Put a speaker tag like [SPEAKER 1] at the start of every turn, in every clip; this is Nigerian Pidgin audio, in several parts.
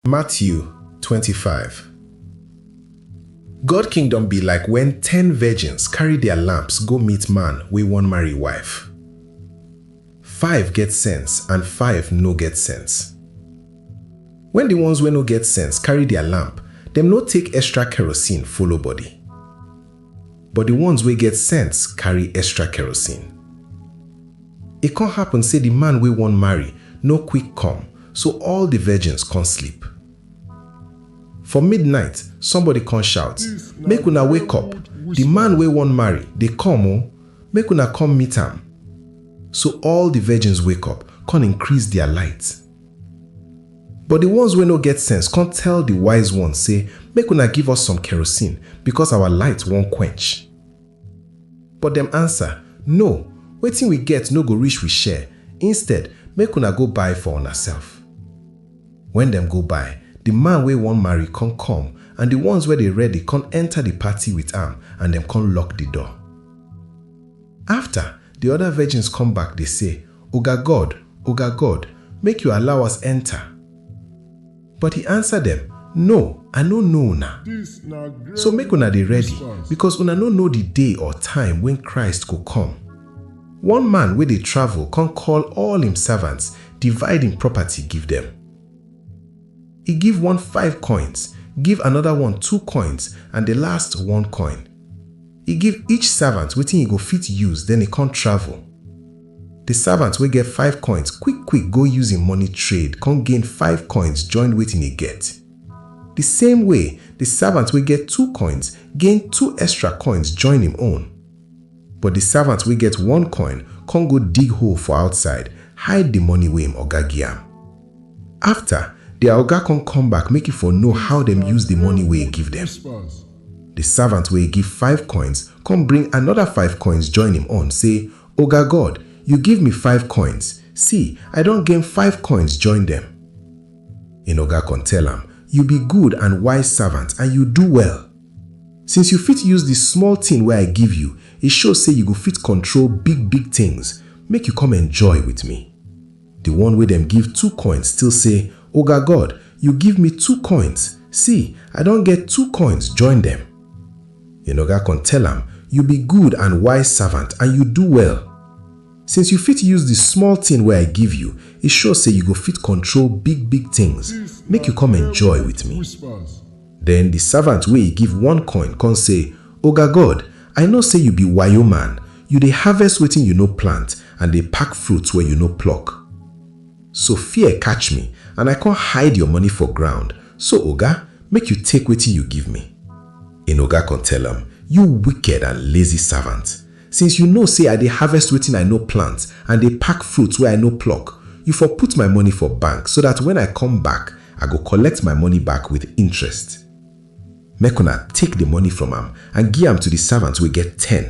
[SPEAKER 1] Matthew twenty five God kingdom be like wen ten virgins carry dia lamps go meet man wey wan marry wife. Five get sense and five no get sense. Wen di ones wey no get sense carry dia lamp, dem no take extra kerosene follow body. but the ones wey get sense carry extra kerosene. E con happen say the man wey wan marry no quick come, so all the virgins con sleep. For midnight, somebody con shout, Make una wake up! The man wey wan marry dey come o! Make una come meet am! So all the virgins wake up con increase their light. But di ones wey no get sense kon tell di wise ones sey, Make una give us some kerosene, bikos awa lite won kwench. But dem ansa, No, wetin wi get no go rish wi share, instead, make una go buy for unaself. Wen dem go buy, di man wey won marry kon kom, and di ones wey dey ready kon enter di party with am, and dem kon lock di door. Afta, Di oda virgins come back dey say, Oga God, Oga God, make yu allow us enta! But e ansa dem, No, I no know una. So make una dey ready, bikos una no know di day or time wen Christ go come. One man wey dey travel come call all im servants, divide im property give dem. E give one five coins, give anoda one two coins, and di last one coin. E give each savant wetin e go fit use den e kon travel. Di savant wey get five koins kwik-kwik go use im moni trade kon gain five koins join wetin e get. Di same way, di savant wey get two koins gain two estra koins join im own. But di savant wey get one koin kon go dig hole for outside, hide di moni wey im oga gi-am. After, dia oga kon kom back make e for know how dem use di money wey e give dem. Di savant wey e give five koins kon bring anoda five koins join im own, sey, Oga God, yu give mi five koins, see, I don gain five koins join dem. Im oga kon tell am, Yu bi good and wise savant and yu do well! Since yu fit use di small tin wey I give yu, e show sey yu go fit kontrol big-big tins, make yu kom enjoy with mi. Di one wey dem give two coins still sey, Oga God, yu give mi two coins, si, I don get two coins join dem. Hin oga kon tell am, Yu bi good and wise savant and yu do well. Since yu fit use di small tin wey I give yu, e sure sey yu go fit kontrol big-big tins, make yu kom enjoy with mi. Den di savant wey e give one coin kon sey, Oga God, I know say you be wayo man, you dey harvest wetin you no plant and dey pack fruits wey you no pluck. So fear catch me and I come hide your money for ground, so Oga, make you take wetin you give me. Ein Oga come tell am, You wicked and lazy servant! Since you know say I dey harvest wetin I no plant and dey pack fruits wey I no pluck, you for put my money for bank so dat when I come back, I go collect my money back with interest. Make una take di moni from am and gi am to di savant wey get ten,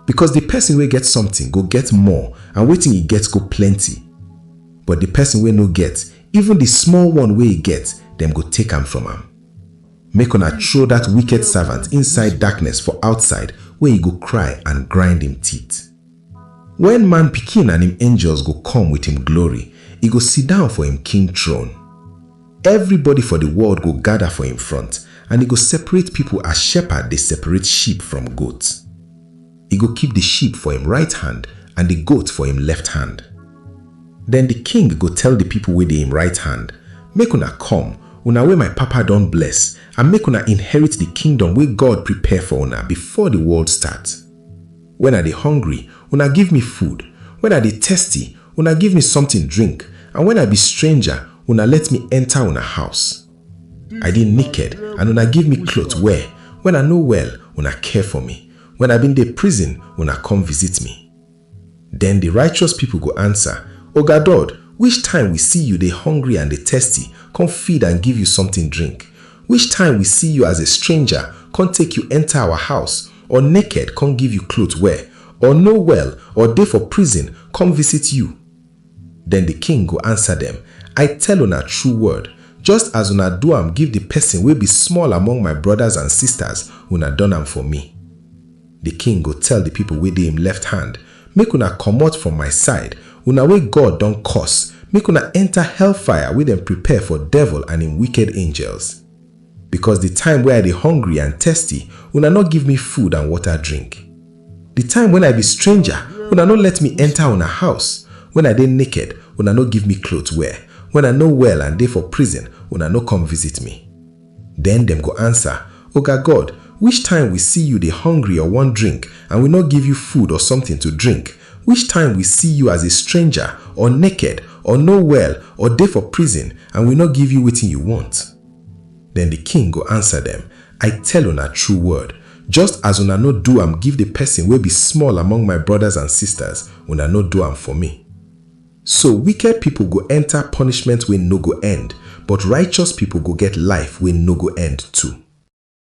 [SPEAKER 1] bikos di pesin wey get somtin go get more and wetin e get go plenty, but di pesin wey no get, even di small one wey e get, dem go take am from am. Make una throw dat wiked savant inside darkness for outside where e go kry and grind im teeth. Wen Man Pikin and im angels go come wit im glory, e go sidon for im king throne. Evribody for di world go gada for im front, and e go separate pipo as shepherd dey separate sheep from goat. E go keep di sheep for im right hand and di goat for im left hand. Den di king go tell di pipo wey dey im right hand, Make una come, una wey my Papa don bless, and make una inherit di kingdom wey God prepare for una before di world start. Wen I dey hungry, una give me food, wen I dey thirsty, una give me sometin drink, and wen I be stranger, una let me enta una house. I dey naked, and una give me cloth wear, wen I no well, una care for me, wen I bin dey prison, una come visit me. Den di righteous pipo go ansa, Oga Dod, which time we see you dey hungry and dey thirsty, come feed and give you sometin drink? Which time we see you as a stranger, come take you enta our house, Or naked kon give yu klot wear, or no well, or dey for prison kom visit yu? Den di king go ansa dem, I tell una tru word, just as una do am give di pesin wey bi small among my brodas and sistas, una don am for mi. Di king go tell di pipol wey dey im left hand, Make una komot from my side, una wey God don curse, make una enta hellfire wey dem prepare for devil and im wiked angels. Because the time wey I dey hungry and thirsty, una no give me food and water drink. The time when I be stranger, una no let me enter una house. When I dey naked, una no give me cloth wear. When I no well and dey for prison, una no come visit me. Then dem go answer, Oga God, which time we see you dey hungry or wan drink and we no give you food or something to drink? Which time we see you as a stranger or naked or no well or dey for prison and we no give you wetin you want? Den di king go ansa dem, I tell una true word, just as una no do am give di pesin wey be small among my brodas and sistas, una no do am for mi. So wicked pipol go enta punishment wey no go end, but righteous pipol go get life wey no go end too.